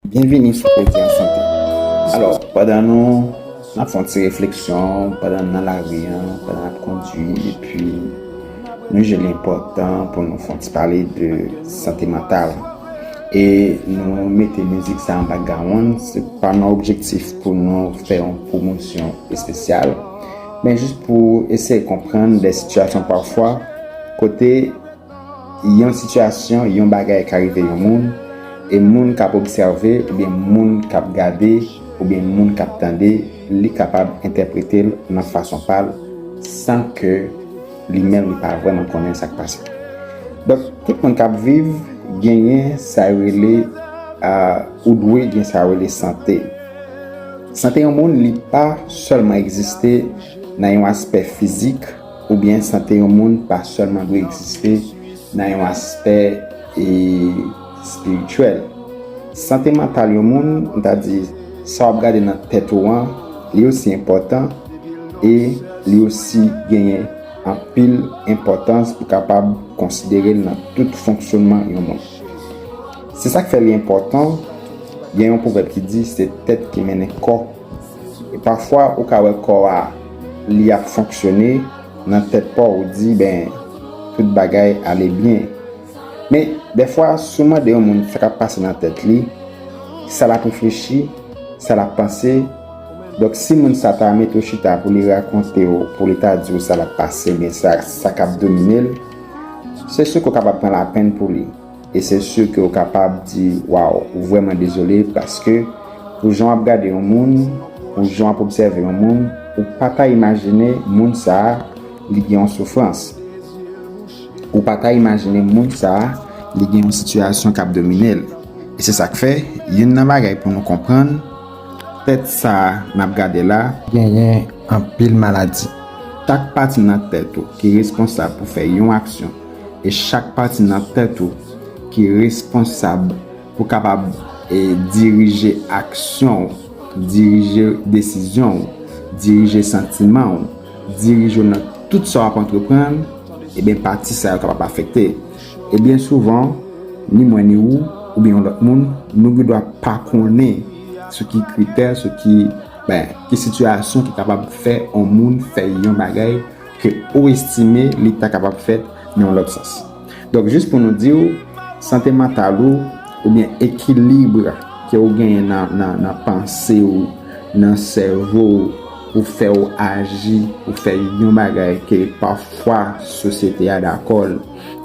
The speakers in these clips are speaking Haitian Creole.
Byenvini sou Kredi an Sante! Alò, pandan nou n ap fè yon ti refleksyon, pandan n nan lari an, pandan n ap kondui, epi nou jije l enpòtan pou nou fè yon ti pale de sante mantal, e nou mete mizik sa an bakgawonn, se pa nan objektif pou nou fè yon pwomosyon espesyal, men jis pou eseye konprann de sitiyasyon pafwa kote. yon sitiyasyon, yon bagay ka rive yon moun, e moun k ap obsève oubyen moun k ap gade oubyen moun k ap tande li kapab entèprete l nan fason pa l san ke li menm li pa vrèman konnen sa k pase. Donk, tout moun k ap viv genyen sa yo rele ou dwe gen sa yo rele sante. Sante yon moun li pa sèlman egziste nan yon aspè fizik, Oubyen sante yon moun pa sèlman dwe egziste nan yon aspè espirityèl. Sante mantal yon moun, m ta di, sa w ap gade nan tèt ou an, li osi enpòtan e li osi genyen anpil enpòtans ou kapab konsidere l nan tout fonksyonman yon moun. Se sa k fè li enpòtan, gen yon pwovèb ki di se tèt ki mennen kò. E pafwa ou ka wè kò a li ap fonksyone nan tèt paw ou di ben tout bagay ale byen. Men dèfwa si w mande yon moun sa k ap pase nan tèt li, sa l ap reflechi, sa l ap panse, donk si moun sa ta mete w chita pou li rakonte w, pou li ta di w sa l ap pase oubyen sa k ap domine l, se si w ka w kapab pran lapenn pou li. E se sur ke ou kapab di waw ou vreman dezole paske pou jan wap gade yon moun, pou jan wap obsève yon moun ou pa ta imajine moun sa li gen yon soufrans, ou pa ta imajine moun sa li gen yon sitiyasyon kap dominel. E se sak fè youn nan bagay pou nou konprann tèt sa nap gade la genyen anpil maladi. Chak pati nan tèt ou ki reskonsab pou fè yon aksyon. E chak pati nan tèt ou ki responsab pou kapab dirije aksyon w, dirije desizyon w, dirije santiman w, dirije w nan tout sa w ap antreprann, ebyen pati sa yo kapab afekte. E byen souvan, ni mwen ni ou, oubyen yon lòt moun, nou gen dwa pa konnen sou ki kritè, sou ki sitiyasyon ki kapab fè yon moun fè yon bagay, ke ou estime li ta kapab fèt nan yon lòt sans. Donk jis pou nou di ou, sante mantal ou, oubyen ekilibre ke ou genyen nan panse ou, nan sèvo ou, pou fè ou aji, pou fè yon bagay ke pafwa sosyete a dakò l,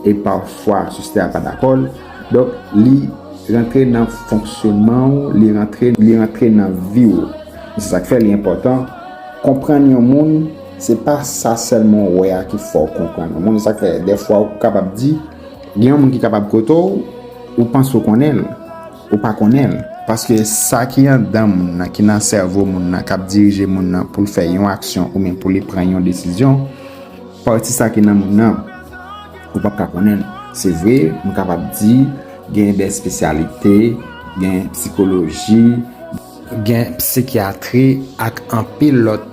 e pafwa sosyete a pa dakò l, donk li rantre nan fonksyonman ou, li rantre nan vi ou. Se sa k fè li enpòtan konprann yon moun. Se pa sa sèlman w wè a ki fè w konprann yon moun. E sa k fè dèfwa ou kapab di, gen yon moun ki kapab kote w, ou panse w konnen l, ou pa konnen l. Paske sa ki anndan moun nan, ki nan sèvo moun nan, k ap dirije moun nan pou l fè yon aksyon oubyen pou li pran yon desizyon, pati sa ki nan moun nan, ou p ap ka konnen l. Se vre, nou kapab di, gen dè espesyalite, gen psikoloji. Gen psikyatri ak anpil lòt.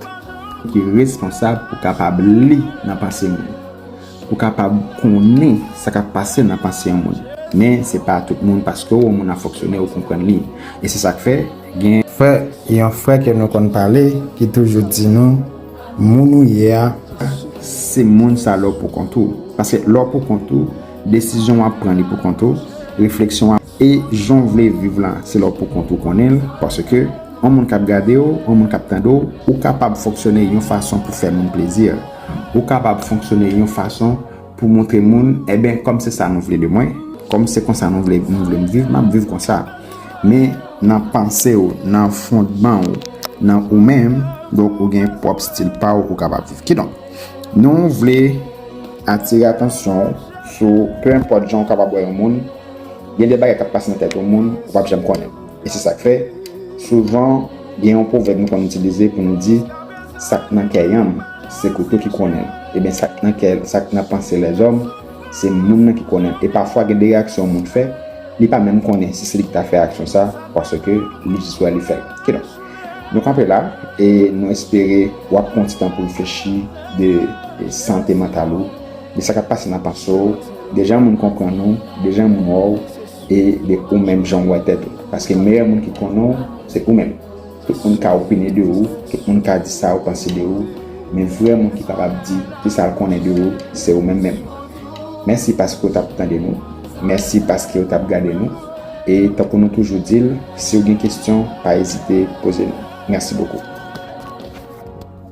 Ki responsab pou kapab li nan panse moun. Pou kapab konnen sa k ap pase nan panse yon moun. Men se pa tout moun paske w wè yon moun ap fonksyone ou konprann li. E se sa k fè gen. Frè, yon frè ke nou konn pale ki toujou di nou, moun ou ye a pa. Se moun sa lè w poukont ou. Paske lè w poukont ou, desizyon w ap pran li poukont ou, refleksyon w ap. E jan w vle viv la, se la w poukont ou konnen l, paske, yon moun k ap gade w, yon moun k ap tande w, ou kapab fonksyone yon fason pou fè moun plezi, ou kapab fonksyone yon fason pou montre moun, enben, kòm se sa nou vle de mwen, kòm se konsa nou vle m viv, m ap viv konsa. Men, nan panse w, nan fondman w, nan ou menm, donk, ou gen pwòp stil pa w ou kapab viv. Kidonk, nou vle atire atansyon w sou, pe enpòt jan w kapab wè yon moun, Gen de bagay k ap pase nan tèt yon moun ou p ap janm konnen. E se sa k fè, souvan, gen yon pwovèb nou konn itilize pou nou di, Sa k nan kè yanm, se kouto ki konnen l. Eben, sa k nan kè, sa k nan panse lèzòm, se moun nan ki konnen l. E pafwa gen de reyaksyon yon moun fè, li pa menm konnen si se li ki ta fè reyaksyon sa a, paske li jis wè li fè l. Kidonk, nou kanpe la e nou espere w ap pran yon ti tan pou w reflechi de sante mantal ou. de sa kap pase nan panse w, de jan moun konprann ou, de jan moun wè w, e de ou menm jan w wè tèt ou. Paske meyè moun ki konnen w, se ou menm. Tout moun ka opine de ou, tout moun ka di sa yo panse de ou, men vrè moun ki kapab di ki sa l konnen de ou, se ou menm menm. Mèsi paske w t ap tande nou, mèsi paske w t ap gade nou, e tankou nou toujou di l, si w gen kesyon, pa ezite poze nou. Mèsi bokou.